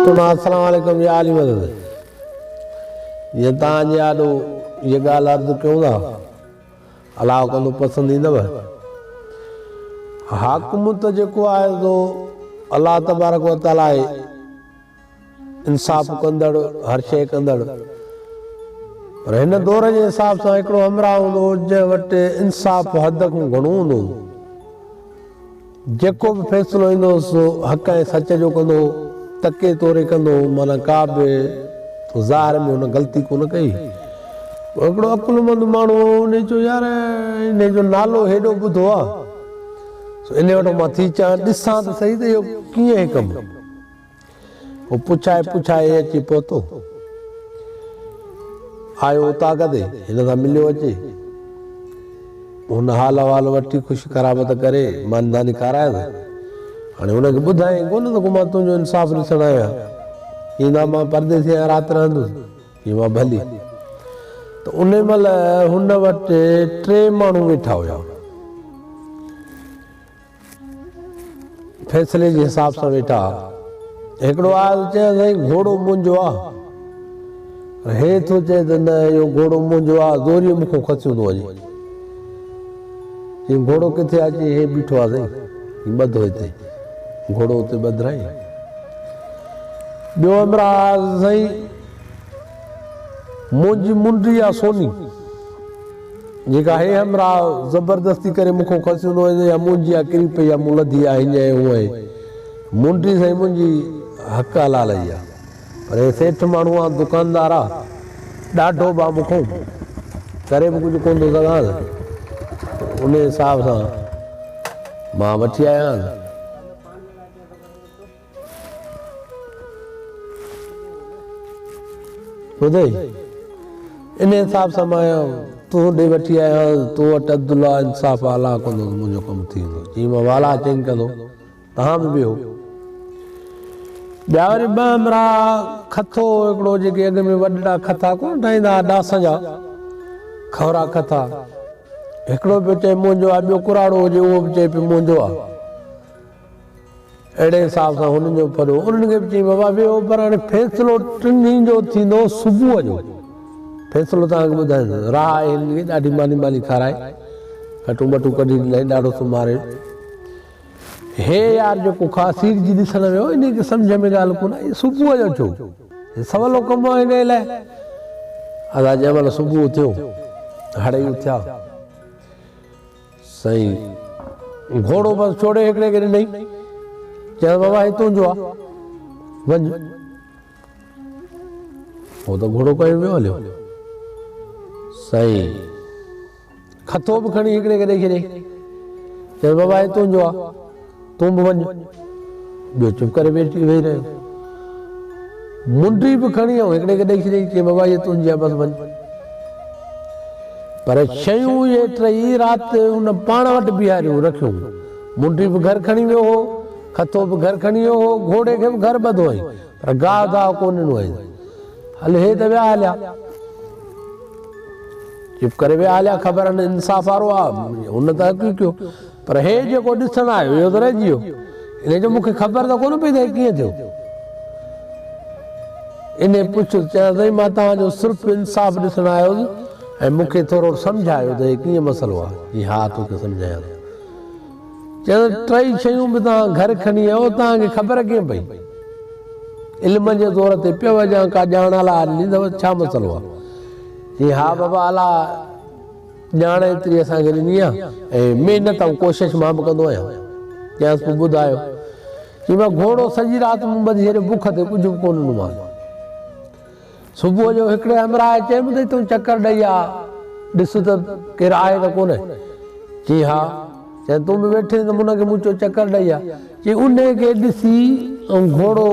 السلام عليڪم يا علي مدد جي تان جي آڏو جي گال عرض ڪيون ٿا الاء ڪندو پسند ايندو حاڪم ته جيڪو آهي سو الله تبارڪ وتعالي انصاف ڪندڙ، هر شيء ڪندڙ. پر هن دور جي حساب سان هڪڙو همراهه هوندو هو، جنهن وٽ انصاف حد کان گهڻو هوندو هو. جيڪو به فيصلو ايندو هو، سو حق ۽ سچ جو ڪندو هو، تڪي توري ڪندو هو، معنيٰ ڪا به تو ظاهر ۾ هن غلطي ڪونه ڪئي هئي. پوء هڪڙو عقلمند ماڻهو هو، هن چيو، يار، انهيء جو نالو هيڏو ٻڌو آهي، سو انهيء وٽان مان ٿي چان، ڏسان ته سهي ته اهو ڪيئن هي ڪم. هو پڇائي پڇائي اچي پهتو. آيو اوطاق تي هن سان مليو اچي. هن حال احوال وٺي خوش قرابت ڪري مانداني کارائس. هاڻي هن کي ٻڌائين ڪونه ته ڪو مان تنهنجو انصاف ڏسڻ آيو آهيان. چيائين نا مان پرديسي آهيان رات رهندس. چيائين وا ڀلي. ته ان مهل هن وٽ ٽي ماڻهو ويٺا هيا. فيصلي جي حساب سان ويٺا ها. هڪڙو آيو ته چيو سائين گهوڙو منهنجو آ. هي ٿو چئي ته نه اهو گهوڙو منهنجو آ زوريء مون کان کسيون ٿو وڃي. چيائين گهوڙو ڪٿي آ؟ چيائين هي بيٺو آ سائين هي ٻڌو هتي. گهوڙو اتي ٻڌرائين. ٻيو همراهه آيو ته سائين منهنجي منڊي آ سوني. جيڪا هي همراهه زبردستي ڪري مون کان کسيون ٿو وڃي يا منهن جيان ڪري پئي يا مون لڌي آهي هينئن ۽ هونئن. مونٽي سائين منهنجي حق حلال ئي آ. پر هي سيٺ ماڻهو آ، دڪاندار آ، ڏاڍو به آ مون کان ڪري به ڪجهه ڪونه ٿو سگهانس. انهيء حساب سان مان وٺي آيو آهيان. ٻڌئي، انهيء انصاف سان مان آيان، تون ڏي وٺي آيو آهين، تو وٽ عدل آ، انصاف آ، الله ڪندو ته منهنجو ڪم ٿي ويندو. چيائين مان والا چينگ ڪندو، توهان به ويهو. ٻيا وري ٻه همراهه هئا، کٿو هو هڪڙو، جيڪي اڳ ۾ وڏڙا کٿا ڪونه ٺاهيندا هئا، ڏاسن جا کهرا کٿا. هڪڙو پيو چئي منهنجو آ، ٻيو ڪراڙو هجي، اهو به چئي پيو منهنجو آ. اهڙي حساب سان هن جو پريو انهن کي به چيائين بابا ويهو پر هاڻي فيصلو ٽنهي جو ٿيندو صبح جو فيصلو توهان کي ٻڌائين راهه آهي هنن کي ڏاڍي ماني مالي کارائي کٽون ٻٽون ڪڍي ڏنائين ڏاڍو سمهاري هي يار جيڪو خاصير جي ڏسڻ ويو ان کي سمجهه ۾ ڳالهه ڪونه آئي صبح جو ٿيو هي سولو ڪم هو هن لاء ادا جنهن مهل صبح ٿيو هڙئي اٿيا سائين گهوڙو بس ڇوڙي هڪڙي کي ڏنائين. چيس بابا هي تنهنجو آ وڃ. هو ته گهوڙو کنئي پيو هليو. سائين کٿو به کڻي هڪڙي کي ڏئي ڇڏيائين. چيس بابا هي تنهنجو آ. تون به وڃ. ٻيو چپ ڪري ويٺي ويهي رهيو. منڊي به کڻي ۽ هڪڙي کي ڏئي ڇڏيائين، چي بابا هيء تنهنجي آهي، بس وڃ. پر شيون اهي ٽيئي رات ان پاڻ وٽ بيهاريون رکيون. منڊي به گهر کڻي ويو هو، کٿو به گهر کڻي ويو هو، گهوڙي کي به گهر ٻڌو هئائين، پر گاهه گاهه ڪو ڏنو هئائين. هل هي ته ويا هليا. چپ ڪري ويا هليا، خبر هن انصاف وارو آ، هن ته حق ئي ڪيو. پر هي جيڪو ڏسڻ آيو اهو ته رهجي ويو. ان جو مون کي خبر ته ڪونه پئي ته هي ڪيئن ٿيو. انهيء پڇيس، چيائين سائين مان توهان جو صرف انصاف ڏسڻ آيو هوس ۽ مون کي ٿورو سمجهايو ته هي ڪيئن مسئلو آهي. چيائين ها تو کي سمجهايان ٿو. چيائين ته ٽئي شيون به توهان گهر کڻي آيو توهان کي خبر ڪيئن پئي؟ علم جي زور تي پيو هجان ڪا ڄاڻ الاء ڏني اٿو ته ڇا مسئلو آهي. چيائين ها بابا الاء. ڄاڻ ايتري اسان کي ڏني آهي ۽ محنت ۽ ڪوشش مان به ڪندو آهيان. چيائنس پوء ٻڌايو. چيومانس گهوڙو سڄي رات مون ٻڌي ڇڏيو بک تي ڪجهه به ڪو نه ڏنومانس. صبح جو هڪڙي همراهه چيم اٿئي تون چڪر ڏئي آ ڏس ته ڪير آهي ته ڪونه؟ چيائين ها. چيائين تون به ويٺي آهين ته منهن کي مچو چڪر ڏئي آ. چيائين انهي کي ڏسي ۽ گهوڙو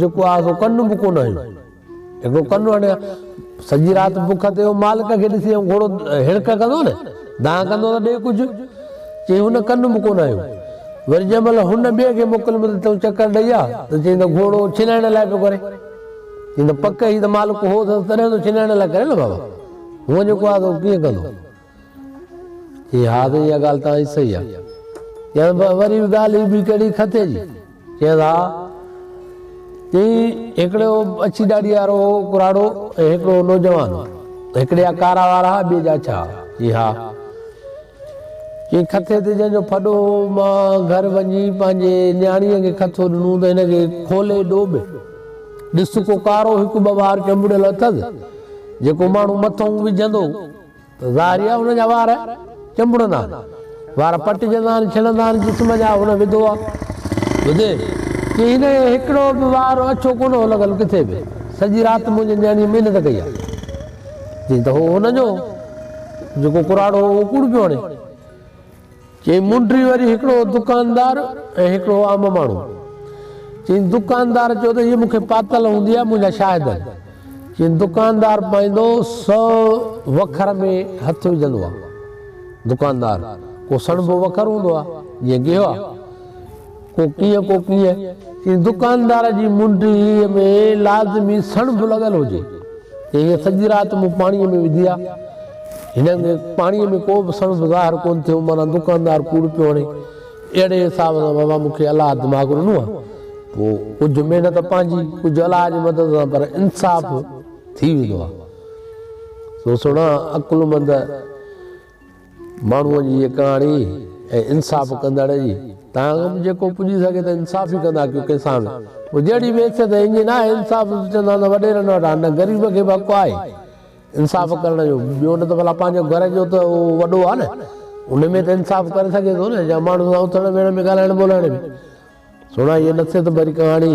جيڪو آهي سو ڪن به ڪونه هنيو. هڪڙو ڪنڊو هڻي ها. سڄي رات بک تي هو مالڪ کي ڏسي ۽ گهوڙو هڙڪ ڪندو نه، دانهن ڪندو ته ڏي ڪجهه. چيائين هن ڪنڊ به ڪونه هنيو. وري جنهن مهل هن ٻئي کي موڪل ملي ته چڪر ڏئي ها ته چيائين ته گهوڙو ڇنائڻ لاء پيو ڪري. چيائين ته پڪ هي ته مالڪ هو اٿس تڏهن ته ڇنائڻ لاء ڪري نه بابا. هونء جيڪو آهي سو ڪيئن ڪندو. چيائين، ها ته اها ڳالهه توهان جي صحيح آهي. چيائين، پر وري به ڳالهه هي به ڪهڙي کٿي جي؟ چيس، ها. چيائين، هڪڙي هو اڇي ڏاڙهيء وارو هو ڪراڙو ۽ هڪڙو هو نوجوان هو. هڪڙي جا ڪارا وار ها، ٻئي جا اڇا ها. چيائين، ها. چيائين، کٿي تي جنهن جو ڦڏو هو، مان گهر وڃي پنهنجي نياڻيء کي کٿو ڏنو ته هن کي کولي ڏوٻ. ڏس ڪو ڪارو هڪ ٻه وار چنبڙيل اٿس، جيڪو ماڻهو مٿئون وجهندو. ظاهري آهي هن جا وار چنبڙندا آهن، وار پٽجندا آهن، ڇڻندا آهن، جسم جا هن وڌو آهي. ٻڌي چي هن جو هڪڙو به وار اڇو ڪونه هو لڳل ڪٿي به، سڄي رات منهنجي نياڻيء محنت ڪئي آهي. چيائين ته هو هن جو جيڪو ڪراڙو هو اهو ڪوڙ پيو هڻي. چين منڊري وري هڪڙو دڪاندار ۽ هڪڙو عام ماڻهو. چين دڪاندار چيو ته هيء مون کي پاتل هوندي ها منهنجا شاهد آهن. چين دڪاندار پائيندو سو وکر ۾ هٿ وجهندو ها. دڪاندار، ڪو سڻڀو وکر هوندو ها، جيئن گيهوا. ڪوڪيء ڪوڪيء جي دڪاندار جي منڊيء ۾ لازمي سڻ به لڳل هجي، ته هيء سڄي رات مون پاڻيء ۾ وڌي آ. هن پاڻيء ۾ ڪو به سڻ به ظاهر ڪونه ٿيو، معنيٰ دڪاندار ڪوڙ پيو هڻي. اهڙي حساب سان بابا مون کي الله دماغ ڏنو آ، پوء ڪجهه محنت پنهنجي، ڪجهه الله جي مدد سان، پر انصاف ٿي ويندو آ. سو سڻا عقلمند! ماڻهوء جي هيء ڪهاڻي ۽ انصاف ڪندڙ جي تان اڳ به جيڪو پڄي سگهي ته انصاف ئي ڪندا ڪيون ڪنهن سان به پوء جهڙي به حيثيت ۽ انجن آهي انصاف به چوندا نه وڏيرن وٽ آهي نه غريب کي به حق آهي انصاف ڪرڻ جو ٻيو نه ته ڀلا پنهنجو گهر جو ته اهو وڏو آهي نه ان ۾ ته انصاف ڪري سگهي ٿو نه يا ماڻهن سان اٿڻ ويهڻ ۾ ڳالهائڻ ٻولهائڻ ۾ سهڻا هيء نصيحت ڀري ڪهاڻي.